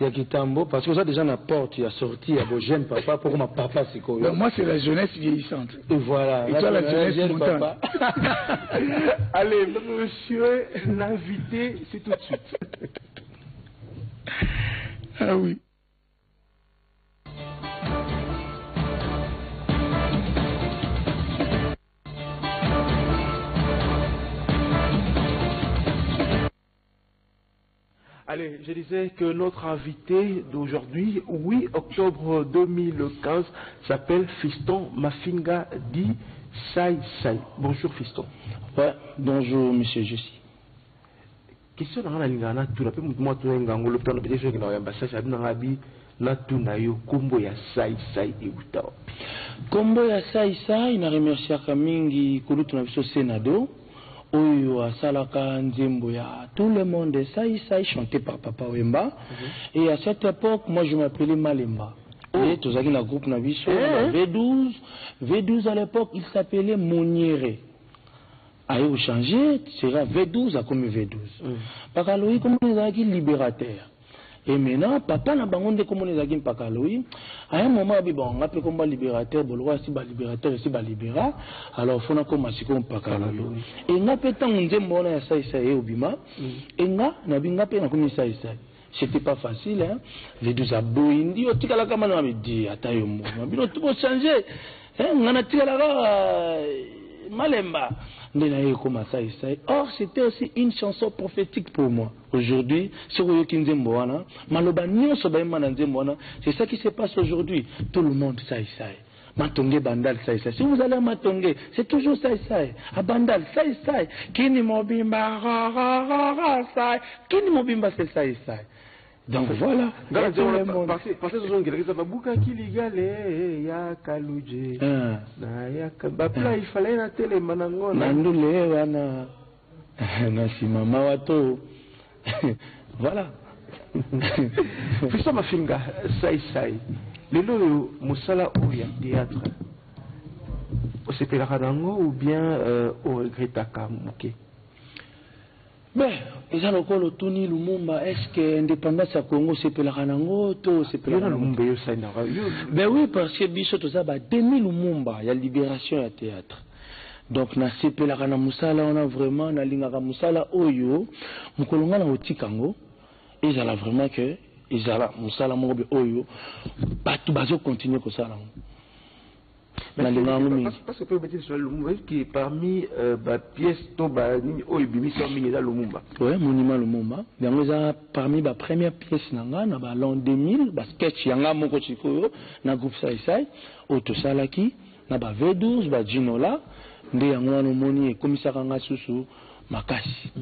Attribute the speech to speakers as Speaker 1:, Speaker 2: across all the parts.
Speaker 1: ya kitambo parce que oza déjà na porte ya sortie ya bo jeune papa poko ma papa sikoyo mais moi c'est la jeunesse
Speaker 2: vieillissante et voilà et toi
Speaker 1: la jeunesse
Speaker 2: jeune papa
Speaker 3: allez monsieur l'invité c'est tout de suite
Speaker 2: ah oui
Speaker 3: Allez, je disais que notre invité d'aujourd'hui, 8 octobre 2015, s'appelle Fiston Mafinga dit Sai Sai. Bonjour Fiston. Ouais,
Speaker 1: bonjour Monsieur Jussi.
Speaker 3: Question nanga na lingana tout la pe mutu mwa tuna ngangolo tuna pe question na yamba sasa abina ngabi Natuna yo kombo ya sai sai ewuta wapi? Kombo
Speaker 1: ya sai sai na remerciaka mingi kulutu na biso Senado oyo asalaka nzembo ya tout le monde sai sai chante par papa wemba et à cette epoque moi je m'appelais malemba et tozalaki na groupe na biso na ba V12 V12 à l'epoque il s'appelait moniere aye ko changer sera V12 akomi V12 bakalogi kombo na ye ezalaki liberateur Et maintenant, papa na bango nde komona ezalaki mpaka aloyi. À un moment, abi bon, nga pe komba libérateur, bolokwa si ba libérateur, si ba libéra. Alors, fona koma siko mpaka aloyi. Et nga pe tango nzembo wana ya sai sai eobima, mm. et nga, na bi nga pe na komi sai sai. C'était pas facile, hein. Les deux aboyi, ndi yo tikala kama na mabi, di ata yo mbo. Mabi no tubo changer. Hein, nga na tikala ka euh, malemba. Nde na ye koma sai sai. Or, c'était aussi une chanson prophétique pour moi. Aujourd'hui soki oyoki nzembo wana maloba nionso bayemba na nzembo wana c'est ça qui se passe aujourd'hui tout le monde sai sai Matonge bandal sai sai. Si vous allez à Matonge, c'est toujours sai sai. À bandal sai sai. Kini mobimba ra ra ra ra sai. Kini mobimba c'est sai sai. Donc voilà. Ngala zona parce
Speaker 3: parce que zongi lakisa babuka kiligale ya kaluje. Ah. Na ya ba pla il fallait na tele manangona. Nandule wana.
Speaker 1: Merci maman Wato. voilà.
Speaker 3: Fiston Mafinga, Sai Sai. Lelo oyo mosala oyo ya théâtre osepelaka na yango ou bien euh, oregretaka moke
Speaker 1: me eza lokola otuni lumumba est ce que indépendance ya congo osepelaka na yango to osepelaka lumumba eyosainaka ben oui parce que biso toza ba demi lumumba ya libération ya théâtre Donc na sepelaka na musala wana vraiment na lingaka musala oyo mukolo nga nako tika yango ezala vraiment que ezala musala moko boye oyo batu bazo continuer kosala yango na lingaka yango
Speaker 3: mingi parce que pe obeti lisolo ya lumumba est ce que parmi euh, ba pièces to ba nini oyo ebimisi yo mingi eza lumumba ouais monument lumumba
Speaker 1: yango eza parmi ba première pièce na nga na ba l'an 2000 ba sketch ya nga moko sikoyo na groupe sai sai oyo tosalaki na ba V12 ba djinola nde yango wana omoni ekomisaka nga susu makasi.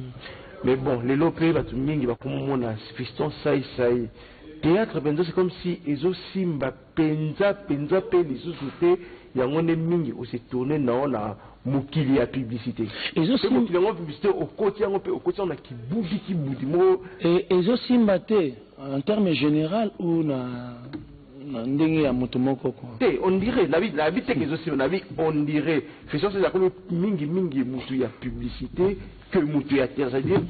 Speaker 1: Mais
Speaker 3: bon lelo pe batu mingi bakomona Fiston Sai Sai theatre penza c'est comme si ezo simba penza penza pe lisusu te yango nde mingi o se tourner nao na mokili ya publicite pe mokili yango publicite okoti yango pe okoti yango na kibudi kibudi moko ezo
Speaker 1: simba te en terme general ou na Na ndenge ya mutu moko ko. Te on dirait nabi
Speaker 3: nabi te ke ezo simba nabi on dirait Christian Celio akomi mingi mingi mutu ya publicite que mutu ya theatre c'est à dire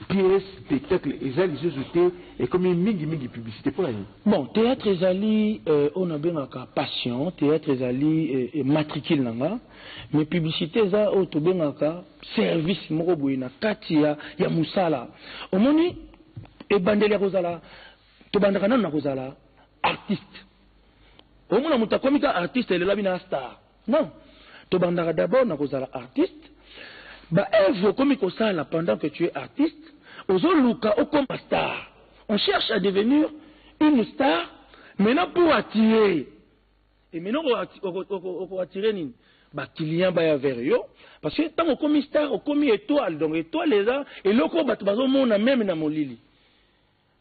Speaker 3: pièce spectacle eza lisusu te ekomi mingi mingi publicite pona nini? Bon theatre ezali
Speaker 1: oyo na bengaka passion theatre ezali matricule na nga mais publicite eza oyo to bengaka service moko boye na kati ya ya musala omoni ebandeli ya kozala Tobandaka nanu na kozala artiste. Omona moto akomi ka artiste elelabi na star. Non. Tobandaka d'abord na kozala artiste. Ba œuvres okomi kosala pendant que tu es artiste, ozoluka okoma star. On cherche à devenir une star maintenant pour attirer. Et maintenant oko attirer nini? Ba clients baya vers yo parce que tango okomi star, okomi etoile. Donc etoile eza eloko bato bazomona meme na molili.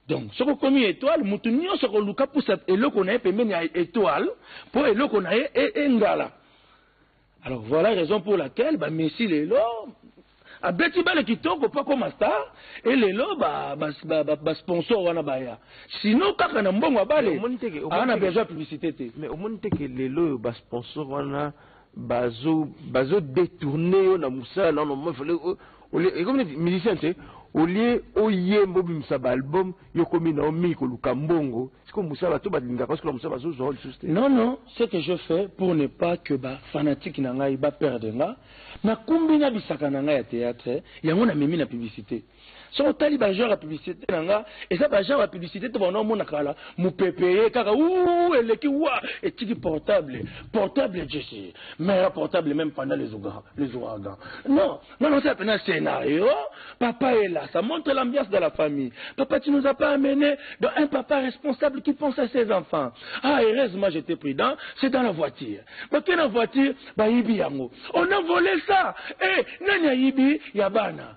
Speaker 1: Donc soki okomi etoile mutu nionso akoluka pusa eloko na ye pembeni ya etoile mpo eloko na ye e, engala alors voilà raison pour laquelle ba messi lelo abeti bale kitoko mpo akoma star e lelo basponsor wana baya sino kaka na mbongo ya bale aa na besoin ya publicité te mais omoni te ke
Speaker 3: lelo oyo basponsor wana bazo bazo detourner yo na musala na no il fallait olie ekomi neti musicien te olie oyemba obimisa ba album yo komi na yo mingi koluka mbongo siko musala to balingaka parce que musala bazozwa lisusu te non non ce que je
Speaker 1: fais pour ne pas que ba fanatique na ngai ba perdre nga nakumbi na bisaka na ngai ya theatre yango namemi na publicite soki otali ba genre ya publicité na nga eza ba genre ya publicité te bana omona kala mopepe ye kaka uu eleki wa etiki portable portable jesi mera portable même pendant les ouragans non nga nasala pena scénario papa est là ça montre l'ambiance de la famille papa tu nous as pas amené dans un papa responsable qui pense à ses enfants ah heureusement j'étais prudent c'est dans la voiture bakena voiture bayibi yango on a volé ça eh nani ayibi ya bana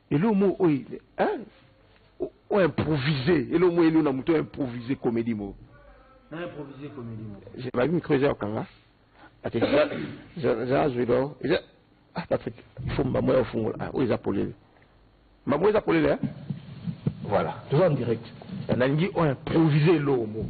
Speaker 3: Eloko moko oyo hein o improviser eloko moko elona moto o improviser comedie moko. Na improviser
Speaker 1: comedie moko. Je ba micro eza okanga
Speaker 3: ate za azwi do eza ah Patrick il faut mbambo ya ofungola ah oyo eza polele mbambo eza polele hein voilà toza en direct nalingi o improviser eloko moko.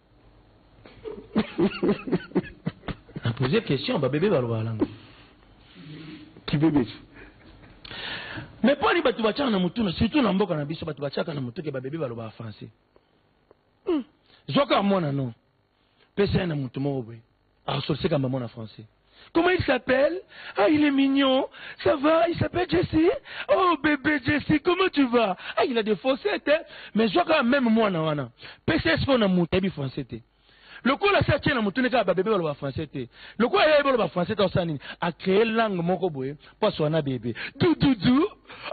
Speaker 1: na poser question ba bebe balobaka nango
Speaker 3: kibebesi
Speaker 1: mais mpo ani bato batiaka na motuna surtout na mboka na biso bato batiaka na motuke babebe balobaka français hmm. zwaka mwana no pesa ye na moto moko boye Arsolse kamba mwana français. Comment il s'appelle Ah, il est mignon. Ça va Il s'appelle Jesse Oh, bébé Jesse, comment tu vas Ah, il a des faussettes, hein Mais je vois même moi, na wana. PCS, on a monté, bi français, t'es. lokola asi atie na motuni kaka babebe baloba français te lokola ye baloba français te osala nini acree langue moko boye mpo aswa na bebe dududu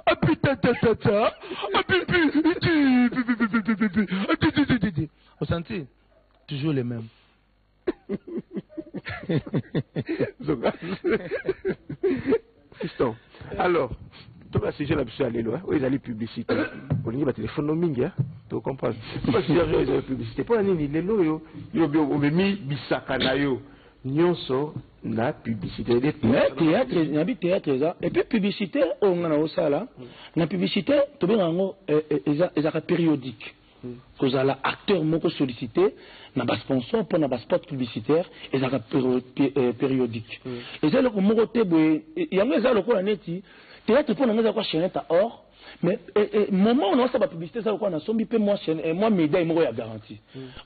Speaker 1: apitatata apipi osanti toujours le même
Speaker 3: fiston alors toka sujet na biso ya lelo oyo ezali publicité olingi batelefone no mingi tocomprendre toka sujet oyo ezali publicité mpo na nini lelo oyo yo omemi bisaka na yo nyonso na publicité
Speaker 1: nabi théâtre eza epuis publicité oyo nga na osala na publicité tobengaka yango ezaka périodique Kozala acteur moko sollicite na ba sponsors pona ba spots publicitaires ezalaka periodique. Eza eloko moko te boye, yango eza lokola neti theatre pona ngai eza lokola chainette à or mais moment oyo naosala ba publicite eza lokola nasombi pe mua medaille moko ya garanti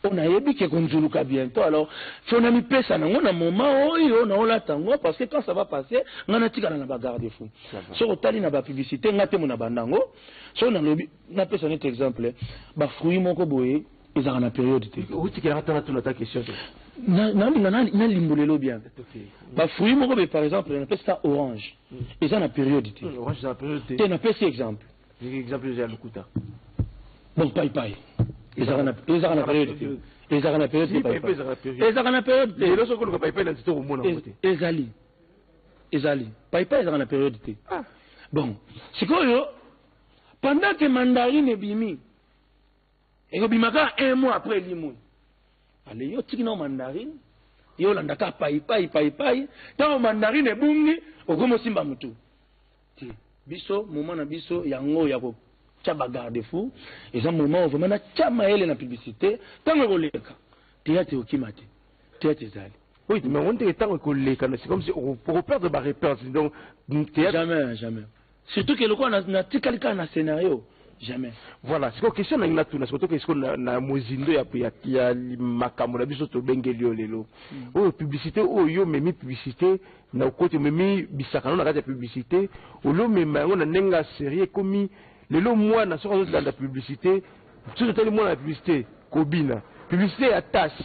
Speaker 1: oyo nayebi que ekonzuluka bientot alors faut namipesa nango na moment oyo naolata yango parce que quand ça va passer ngai natikala na ba garde fou. Soki otali na ba publicite ngai temo nabanda yango soki nalobi Na pesa neti exemple ba fruits moko boye ezalaka na periode te. Otikelaka tala tuna ta
Speaker 3: question te. Na na linga
Speaker 1: na na limbolelo bien. Ba fruits moko be par exemple na pesa orange hmm. eza na periode te. Hmm, orange eza na periode te. Te na
Speaker 3: pesa exemple.
Speaker 1: Exemple eza
Speaker 3: lukuta. Donc
Speaker 1: pai pai. Ezalaka na ezalaka na periode te. Ezalaka na periode te pai pai. Ezalaka na periode te. Lelo soko luka pai pai na tito
Speaker 3: komona ngo te. Ezali.
Speaker 1: Ezali. Pai pai ezalaka na periode te. Ah. Bon. Sikoyo Pendant que mandarine ebimi, ekobima kaka un mois après elimwe. Ale yo tiki na mandarine, yo olanda kaka pai pai pai pai, ntango mandarine ebungi okomi osimba motu. Te, biso moment na biso yango ya kotya ba garde fou eza moment oyo vraiment natya mayele na publicité ntango ekoleka teyate okima te teyate ezali Oui, mais on dirait que
Speaker 3: tant que les canaux, c'est comme si on, on perd de barre perdre. Donc, théâtre. Jamais,
Speaker 1: jamais. Surtout que lokola na tikali kaka na scenario jamais. Voilà, siko question
Speaker 3: nangi natuna siko toke siko na, na mozindo ya, ya, ya makambo na biso tobengeli yo lelo mm. oyo publicité oyo yo memi publicité na okoti omemi bisakano na kati ya publicité oli omema yango na ndenge ya serie ekomi lelo mwana soki azozilanda publicité soki otali mwana na publicité kobina publicité ya tase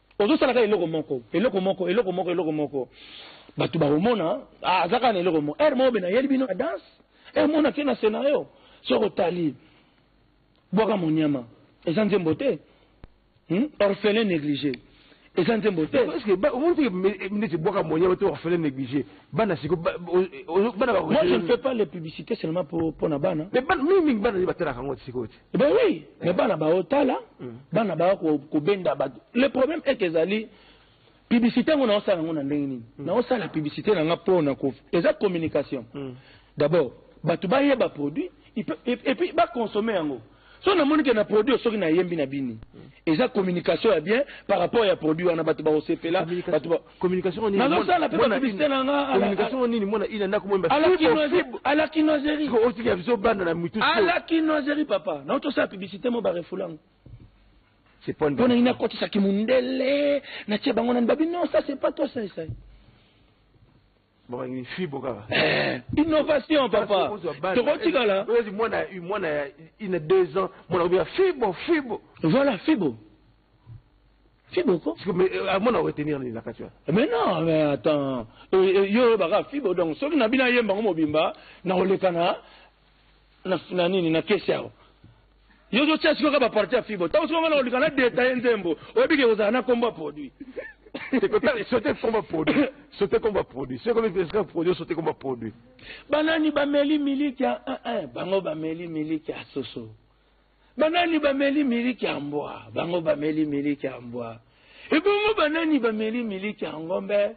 Speaker 1: Ozo sala kaka eloko moko, eloko moko, eloko moko, eloko moko. Batu ba komona, ah, aza kaka na eloko moko. Heure moko bena yeli bino na danse, eh, mona ke na scenario. Soki otali, bwaka monyama, eza nzembo te. Hmm? Orphelin neglige. eza nzembo te omoni te
Speaker 3: neti bwaka moyen ote orphelin négligé bana siko
Speaker 1: bana moi je ne fais pas les publicités seulement mpo na bana mais mingi mingi bana nde
Speaker 3: batalaka yango sikoyo te Eh ben
Speaker 1: oui, mais bana ba otala, mm. bana ba ko kobenda ba. Le problème est que ezali publicité ngo na osala ngo na ndenge nini? Mm. Na osala publicité na nga po na ko eza communication. Mm. D'abord, bato ba yeba produit et puis ba consommer yango. So na moni que na produit soki na yembi na bini. Eza communication ya bien par rapport ya produit wana bato ba osepela, bato ba Communication nini?
Speaker 3: Nazo sala pe ba publicité
Speaker 1: na nga. Communication nini mwana
Speaker 3: ina ndako mwemba. Ala kinoiserie. Ala
Speaker 1: kinoiserie. Siko oti ya biso banda
Speaker 3: na mitu. Ala kinoiserie
Speaker 1: papa. Na oto sala publicité mo ba refulango.
Speaker 3: C'est point. Pona ina koti sa
Speaker 1: kimundele. Na tie bango na babi non ça c'est pas toi ça ça.
Speaker 3: Eh, innovation
Speaker 1: papa tokotikala mwana ya
Speaker 3: ina deux ans mwana obi ya fibo fibo voilà fibo
Speaker 1: fibo ko euh, ah, mwana oretenir
Speaker 3: nini na kati wana eh, mais non mais
Speaker 1: attends euh, euh, yo oyebaka fibo donc soki na bino ayemba yango mobimba nakolekana na, na nini na kesi awa yo ozotia sikoyo kaka baparti ya fibo ntango sikoyo ngana olika na detaye nzembo oyebi ke kozala na nkombo ya produit
Speaker 3: sote komba produit sote komba produit soki ekomi pesika produit sote komba produit banani
Speaker 1: bameli miliki ya eh, eh, bango bameli miliki ya soso banani bameli miliki ya mbwa bango bameli miliki ya mbwa ebongo banani bameli miliki ya ngombe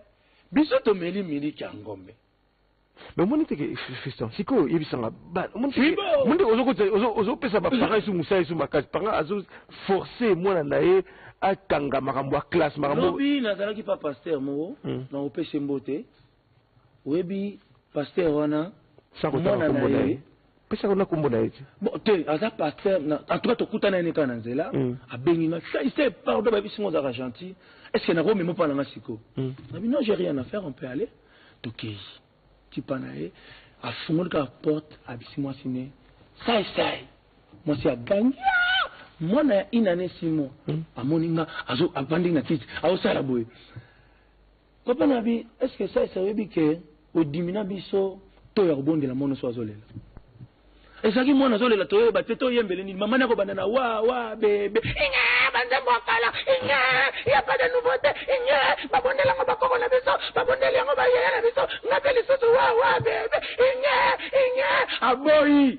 Speaker 1: biso tomeli miliki ya ngombe mais omoni
Speaker 3: te ke fiston sikoyo yebisa nga omoni te omoni te ozokotisa ozopesa bapara esu mosala esu makasi panga azoforce mwana na ye akanga makambo ya classe makambobi nazalaki pa
Speaker 1: paster moko hmm. na opese mbote oyebi paster wana mwana
Speaker 3: na ye pesaka na kombo na ye ti bon te aza pasteur
Speaker 1: na en tout cas tokuta na ye kaka na nzela mm. abengi nga sai sai pardon ba bisingo zaka gentil est ce que nako memo pa na nga siko mm. na bi non j'ai rien à faire on peut aller tokei ti pa na ye afungoli kaka porte abisi mwasi ne sai sai mwasi agangi mwana ya inane simo mm. amoni nga azo abandi na kiti aosala boye Papa nabi est ce que ça ça oyebi que odimina biso to ya kobondela mono so azolela ezalaki mwana azolela toyeba te toyembele nini mama nako banda na wa wa bebe inga banzembo ya kala inga ya pas de nouveauté inga babondela yango bakoko na biso babondeli yango bayaya na biso nga mpe lisusu wa wa bebe inga inga aboyi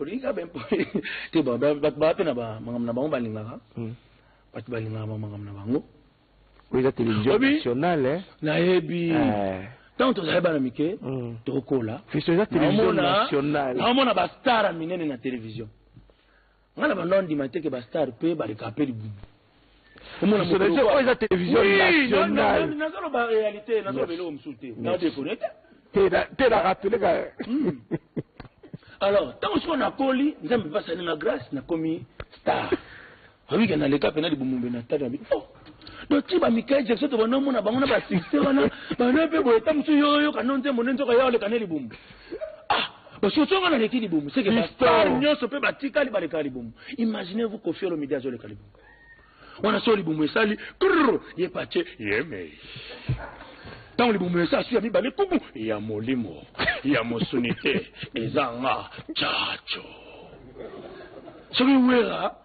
Speaker 1: olingi kaka bempo te bato baa mpe na makambo na bango balingaka hmm. bato balingaka bamakambo na bango
Speaker 3: oyo eza télévision nationale eh? nayebi
Speaker 1: eh. ntango tozali bana mike hmm. tokola fiso eza télévision
Speaker 3: nationale naomona bastara
Speaker 1: minene na télévision Nga na banda ondima te ke ba star pe ba leka pe libumu.
Speaker 3: Nationalite oyo eza television nationale. Nazo loba realite,
Speaker 1: nazo loba eloko mosusu te. Na deconner
Speaker 3: te. Te na te na rappeler ka.
Speaker 1: Alors, tango siko nakoli, Nzambe pe asali nga grace nakomi star. Oyebi ke na leka pena libumu mbe na stade na bino. Oh! donc ti ba Michael Jackson to bana mona bango na ba succès wana bana pe boye ta musu yo yo kano nzembo nde nzoka yo oleka ne libumu ah basosonga na leki libumu seke ba star nyonso pe batikali baleka libumu imaginez vous Koffi Olomide azoleka libumu wana so libumu esali krr ye patie yemei ntango libumu esi aswi ya mibale kuku ya molimo ya mosuni te eza nga caco soki wera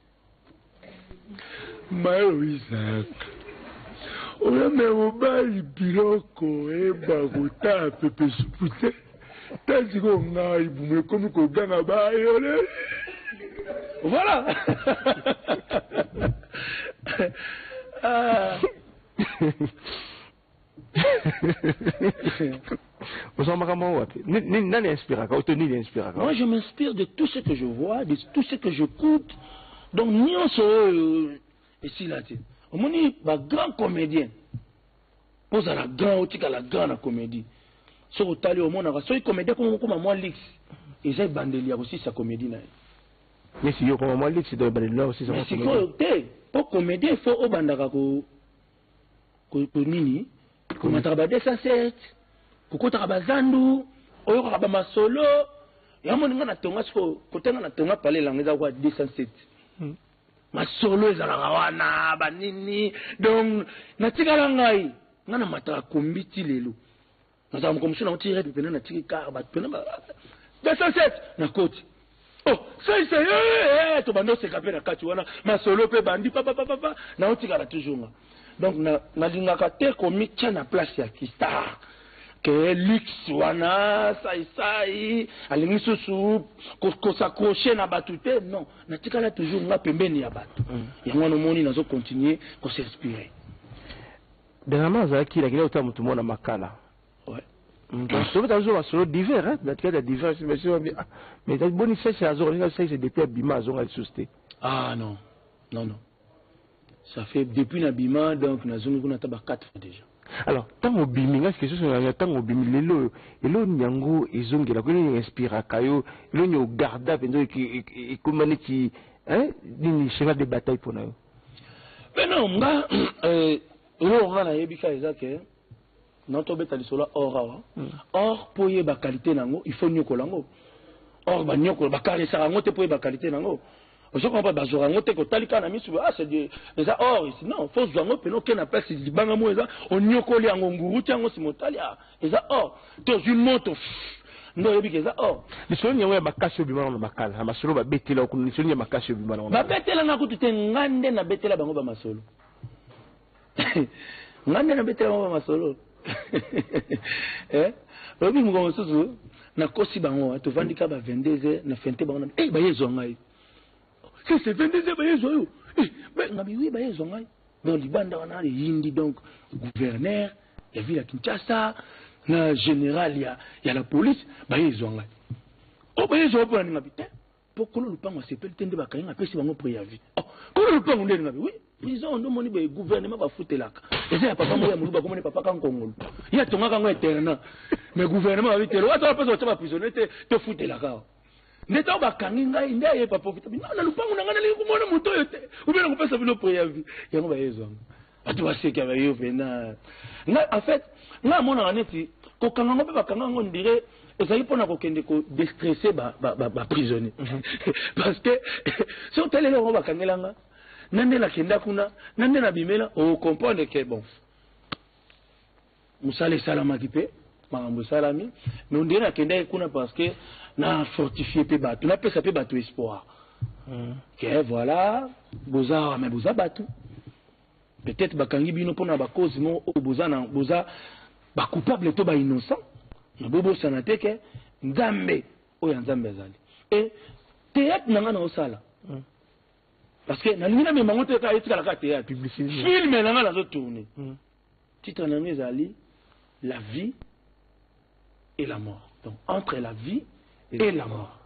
Speaker 1: Mayo Isaac oyambe mobali biloko eba kotaa pepe supu te ta sikoyo ngai bumu ekomi koganga bayole voilà ah. Ozwa makambo yango wapi? Ni- ni- Nani inspiraka oto nini inspiraka? Moi, je m'inspire de tout ce que je vois, de tout ce que j'écoute. Donc, nyonso oyo esila te. Omoni ba grands comédiens. Mpo ozala grand, otikala grand na comédie. Soki otali omonaka, soki comédien akoma kokoma mwa lix, eza ebandeli ya kosilisa comédie na ye. Nesi yo
Speaker 3: koma mwa lix do ebale leo sisa Mais kwa sikoyo te,
Speaker 1: mpo comédien il faut obandaka ko nini komataka ba 207 kokotaka bazandu oyokaka bamasolo yamoni nga natonga siko kote nga natonga pale elanga eza kwa 207 hmm. masolo ezalaka wana banini donc natikala ngai nga namataka kombi ti lelo nazala moko mosusu na oti rep mpena natiki kar bato mpena 207 na koti o oh, saise eh, eh, eh, tobanda oseka mpe na kati wana masolo mpe bandi papapapapa na otikala toujours nga donc nalingaka na te komitya na place ya kistar ke luxe wana saisai alingi susu kosaccroche na bato te non natikala toujours nga pembeni ya bato mm. yango wana omoni nazo continue kosinspire
Speaker 3: Dernièrement azalaki na kila kotala motu moko na makala ouais.
Speaker 1: Mm, tobe
Speaker 3: tazozo masolo divers hein na tikata divers mais soki babi ah, mais tati boni sese azonga ndenge sese depuis abima azonga lisusu te ah non
Speaker 1: non non ça fait depuis na bima donc nazongi kuna ata ba 4 fois déjà alors ntango
Speaker 3: obimi ngai sike soso nanga ntango obimi lelo oyo eloo nini yango ezongela ko nini inspiraka yo eloo nini ogarda mpenza ekoma neti nini cheval de bataille mpo na yo Mais non,
Speaker 1: nga, euh, eloko nga nayebi ka eza ke na tobeta lisolo ya or awa hmm. or mpo oyeba qualité na yango il faut nyokola yango or banyokola bakaresaka yango te mpo oyeba qualité na yango ozokomba bazwaka yango te kotali kaka na miso ah c'est eza or ici non fo ozwa yango mpena oke na place libanga moko eza onyokoli yango nguru ti yango sima otali ah eza or tozwi moto nde oyebi ke eza or lisolo yango ya makasi
Speaker 3: obima na makala na masolo babetela kuna lisolo ya makasi obima na babetela nga kutu te
Speaker 1: nga nde nabetela bango bamasolo nga nde nabetela bango bamasolo eh? oyebi mokolo mosusu nakosi bango tovandi ka ba 22 heures na fente bango na eh, baye ezwa ngai si c'est 22 heures baye zwa yo eh, mais nga biwi baye zwa ngai donc libanda wana eyindi donc gouverneur ya ville ya kinshasa na général ya, ya la police baye ezwa ngai o oh, baye ezwa mpo na ninga bi te mpo kolo lopango asepeli te nde bakangi apesi bango préavis oh, kolo lopango nde ninga bi oui prison nde omoni boye gouvernement bafutelaka eza ya papa moko ya moluba komoni papa kankongolo ye atongaka yango internat mais gouvernement babitelo ata bapesa batya baprisonnier te tofutelaka nde ntango bakangi ngai nde aye papa okitabi na lopango na ngai nalingi komona moto oyo te obe na kopesa bino preavi yango bayezwanga bato baseki bayo mpena ngai en fait ngai amonaka neti kokanga yango mpe bakanga yango ndire ezali mpo na kokende kodestresse baprisonnier mhm. parce que soki otaleli yango bakangela nga na nde nakenda kuna na nde nabimela okomprendre ke bon musala esalamaki pe makambo esalami mais on dirait nakendaki kuna parce que na fortifie pe bato napesa pe bato espoir hmm. ke voilà boza awa mais boza bato peut-être bakangi bino mpona bacause moko oyo boza na boza bacoupable to bainnocent mais bobosana te ke nzambe oyo ya nzambe azali e théâtre na ngai naosala hmm. parce que nalingi namema yango te kaka etikala kaka théâtre film na ngai nazotourne hmm. Titre na yango ezali La vie et la mort. Donc entre la vie et la mort.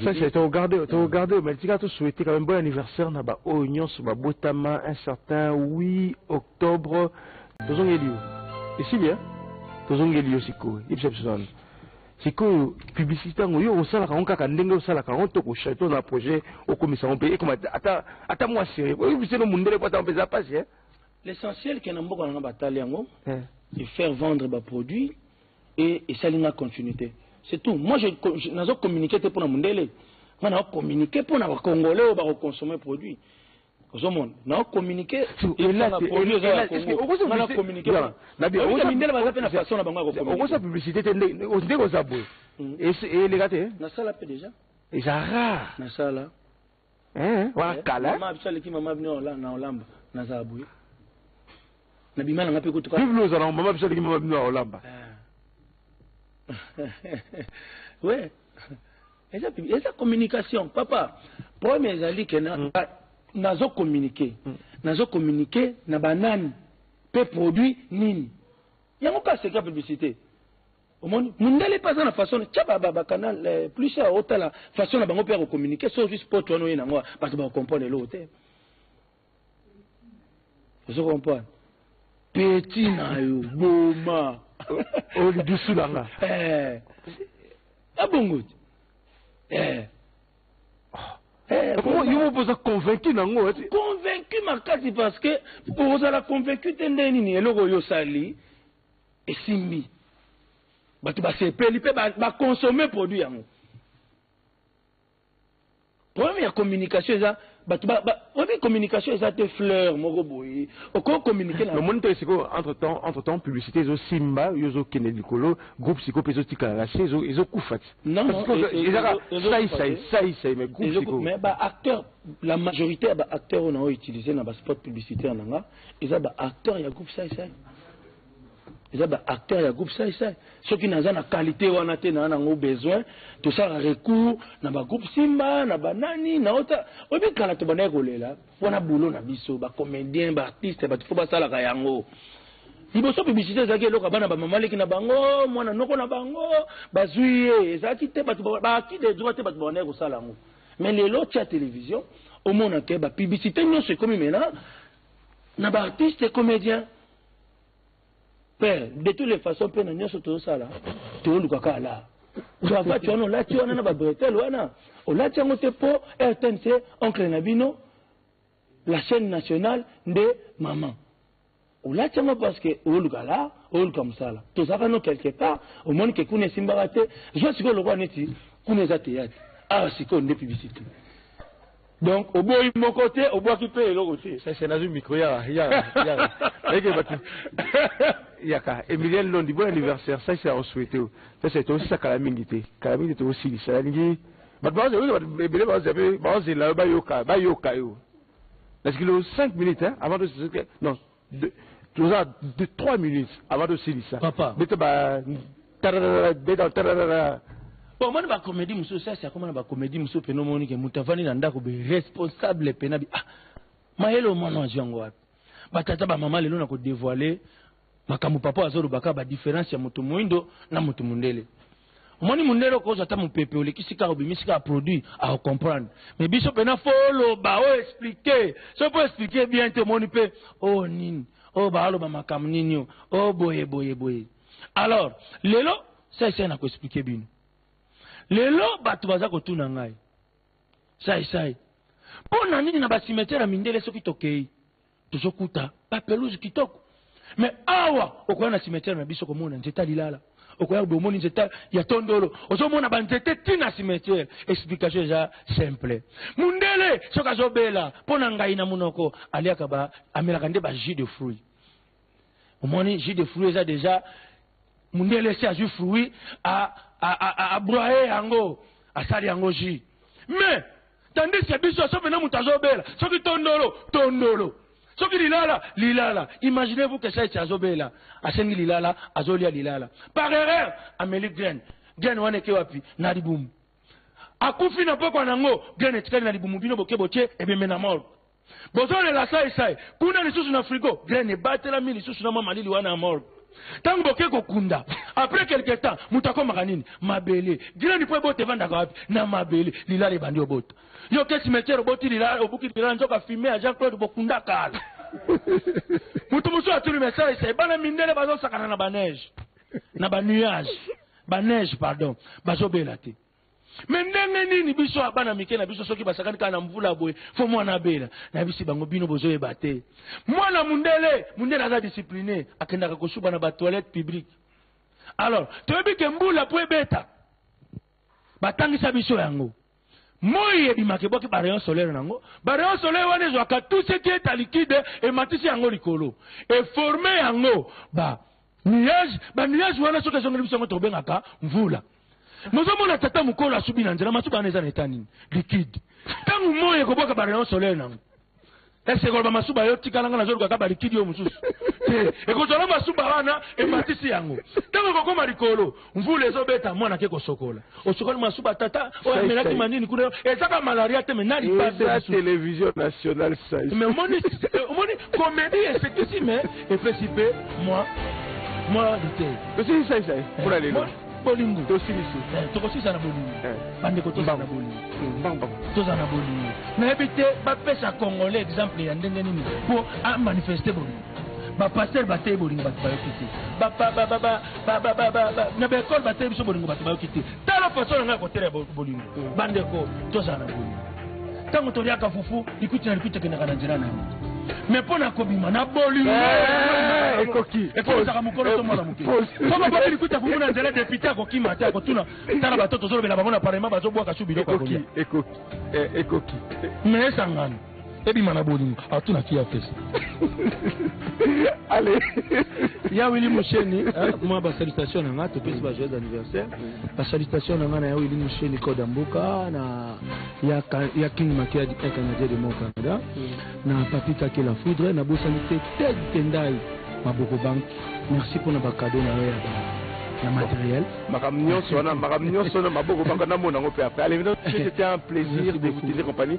Speaker 1: Sasa togarde
Speaker 3: togarde mais tika to souhaiter quand même bon anniversaire na ba oyo nyonso ba botama un certain 8 octobre tozongeli yo esili hein tozongeli yo sikoyo yebisa biso nanu sikoyo publicité yango yo osalaka yango kaka ndenge osalaka yango to kochato na projet okomisa yango mpe ekoma ata ata mwa serie oyebiseno mundele mpo ata mpe eza mpasi hein L'essentiel que
Speaker 1: na mboka na nga batali yango de faire vendre ba produits et esali nga continuite c'est tout moi je nazo communiquer te pona mundele nga na communiquer pona ba congolais oyo bako consommer produit ozomona na communiquer elaka produit eza ya Congo nga na communiquer na bien oza mindele baza pe na façon na bango ya
Speaker 3: ko communiquer okosa publicité te nde oza boye eleka te nasala pe déjà
Speaker 1: eza
Speaker 3: rare nasala Eh, wana eh, kala. Mama biso aleki mama bino na olamba na zabu. Na bima na ngape ko tuka. Biblo za na mama biso aleki mama
Speaker 1: bino na olamba. Ouais. Eza eza communication papa. Problème ezali que na mm. nazo communiquer. Mm. Nazo communiquer na banani pe produit nini. Yango ka seka publicité. omoni mundele mpe aza na façon na tya bacanal plus ya otala façon na bango mpe ya kocommunike so ozwi sport wana oye nango bato bakokomprendre eloko te ozo comprendre peti na yo boma
Speaker 3: olidusu na nga
Speaker 1: abongo te
Speaker 3: yo moko oza convaincu nango convaincu
Speaker 1: makasi parce que ozala convaincu te nde nini eloko oyo osali esimbi bato basepeli mpe baconsome ba produit yango problème ya communication eza bato oyebi communication eza te fleur moko boye okoki communiquer na omoni te sikoyo
Speaker 3: entre temps entre temps publicité ezosimba yo ozokende likolo groupe sikoyo mpe ezotikala na se ezokufa ti ezaka
Speaker 1: saisai
Speaker 3: saisai mais groupe sikoyo mais ba acteur
Speaker 1: la majorité ya ba acteur oyo na oyo utilise na ba spot publicitaire na nga eza ba acteur ya groupe sai sai eza ba acteur ya groupe sai sai soki naza na qualité wana te naa nango besoin tosala recours na ba groupe simba na banani na ota oyebi kala tobandaki kolela wana boulot na biso ba comédien ba artiste bato fo basalaka yango liboso publicité ezalaki eloko bana bamamaleki na bango mwana noko na bango bazwi ye ezalaki te bato baaki de droit te bato babandaki kosala yango Mais lelo otia television omona ke ba publicité nyonso ekomi mena na ba artiste comédien pe de toutes les façons mpe na nyonso tozosala tooluka kaka la cravate wana olati wana na ba bretelle wana olati yango te mpo rtnc oncle na bino La chaine nationale nde maman. Olati yango parce que oluka la, oluka musala. Tozaka no quelque part, omoni ke kuna esimbaka te. Zwa siko lokola neti kuna eza théâtre. Awa siko nde publicité. Donc oboyi moko te, obwaki pe eloko te. Sese nazwi micro ya
Speaker 3: ya ya. Eke batu. Yaka Emilienne Londi bon anniversaire. Sese ako souhaiter. Sese to sisa kala mingi te. Kala mingi te to silisa. Nalingi bato baoza oyoka bato ebele baoza mpe baozela yo bayoka bayoka yo na sikilo 5 minutes hein, avant tosilisa non toza 3 minutes avant tosilisa papa beta ba
Speaker 1: tararara beta tararara omoni bacomédie mosusu sasi akoma na bacomédie mosusu mpena omoni ke moto avandi na ndako be responsable mpena bi ah mayele omwana azwi yango wapi batata bamama lelo na kodevoile makambo papa oyo azoloba kaka badiference ya moto moindo na moto mondele omoni mondele okozwa ata mopepe olekisi kaka obimisi kaka produit aocomprendre mais biso mpena fo oloba oexplike soki mpo explike bien te omoni mpe o oh, nini o oh, baaloba makambo nini o o oh, boye boye boye alors lelo saisai na koexplike bino lelo bato baza kotuna ngai saisai mpo na nini na basimetiere ya mindele soki tokei tozokuta ba pelouse kitoko mais awa okoya na cimetière na biso komona nzete ya lilala okoya bomoni nzete ya tondolo ozomona banzete ti na cimetière explication eza simple mundele soki azobela mpo na ngai na monoko aliaka ba amelaka nde ba jus de fruit omoni jus de fruit eza deja mundele esi azwi fruit abroye yango asali yango jus mais tandis ke biso soki pena moto azobela soki tondolo tondolo soki lilala lilala imaginez vous que saiti azobela asengi lilala azolia lilala par erreur ameli graine graine wana eke wapi na libumu akufi na pokwa na yango graine etikali na libumu bino boke botie ebembe na morgue bozolela sai sai kuna lisusu na frigo graine ebatelami lisusu na mwa malili wana ya morgue ntango boke kokunda apres quelque temps moto akomaka nini mabele graine mpo ebota evandaka wapi na mabele lilala ebandi obota yo ke cimetiere oboti lilala obuki lilala nzoka fime ya jean claude bokunda kala moto mosusu atuni mesai sai bana mindele bazosakana na baneige na banuage baneige pardon bazobela te me ndenge nini biso ya bana mike na biso soki basakani kaka na mvula boye fo mwana abela nayebisi bango bino bozoyeba te mwana mundele mundele aza discipline akendaka kosuba na batoilette publique alors toyebi ke mbula mpo ebeta batangisa biso yango moi ebimaka ebwaki barayon solaire na yango barayon solaire wana ezwaka tout ce qui est alikide ematisi yango likolo eforme yango ba nuage ba nuage wana soki ezongeli biso yango tokobengaka mvula mozomona tata mokolo asubi na nzela masuba wana eza na eta nini likide ntango moi ekobwaka barayon soleil nango ese ekoloba masuba yo tikala nga nazolukaka balikidi yo mosusu te ekozwala masuba wana ematisi yango ntango ekokoma likolo mvula ezobeta mwana ake kosokola osokoli masuba tata oyo amelaki manini kuna ezaka malaria te me na lipaeatelevision
Speaker 3: nationale sai me omoni
Speaker 1: omoni komedi esekisi me epesi mpe mwa mwa lite tosili sai sai
Speaker 3: mpona lelo bolingo
Speaker 1: tosilisi
Speaker 3: tokosisa na bolingo
Speaker 1: bandeko tozala na bolingo tozala na bolingo nayebi te bapesa congolais exemple ya ndenge nini mpo amanifeste bolingo ba pasteur bateyi bolingo bato bayoki te na baekole bateyi biso bolingo bato bayoki te tala faso na ngai ya koteya bolingo mm. bandeko tozala na bolingo ntango toliaka fufu likuti na likuti ekendaka na nzela na yango me mpo na kobima na bolingo eh, ekoki
Speaker 3: ekozaka mokolo
Speaker 1: to mwana moke soko bobi likuta fufu na nzela depute akokima te akotuna tala bato tozolobela bango na parlement bazobwaka su biloko ekoki
Speaker 3: ekoki eh, me
Speaker 1: esangano ebima na bolingo atunaki ya pesa
Speaker 3: ale ya wili
Speaker 1: musheni eh, mwa basalutation na nga topesi ba joyeux anniversaire basalutation na nga na ya wili musheni koda mboka na ya, ya king makia du canadien de mon canada na papi kake la foudre na bosani te ted tendai maboko bank merci mpo na bakado na yo ya ba ya matériel makambo nyonso wana
Speaker 3: makambo nyonso wana maboko banga namona yango mpe après allez c'était un plaisir de vous tenir compagnie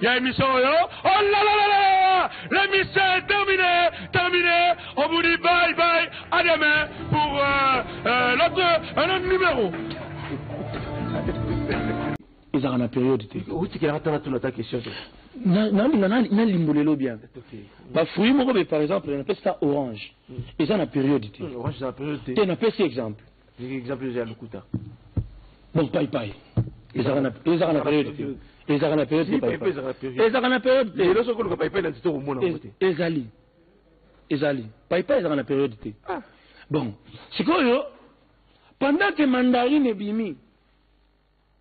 Speaker 1: ya emission oyo oh la la la la l'émission est terminée terminée on vous dit bye bye à demain pour euh, euh, l'autre un autre numéro ezalaka na periode te otikelaka tala
Speaker 3: tuna ta question te nalinga
Speaker 1: nalimbo lelo bien bafruit moko be par exemple napesi ta orange eza na periode te
Speaker 3: te napesi exemple
Speaker 1: Ndenge exemple oyo eza ya
Speaker 3: lokuta. Donc
Speaker 1: pai pai ezaka na ezaka na periode te. Ezaka na periode te pai pai. Ezaka na periode te. Lelo soko luka pai pai na
Speaker 3: nzito komona ngo te. Ezali.
Speaker 1: Ezali. Pai pai ezaka na periode te. Ah. Bon, sikoyo pendant que mandarine ebimi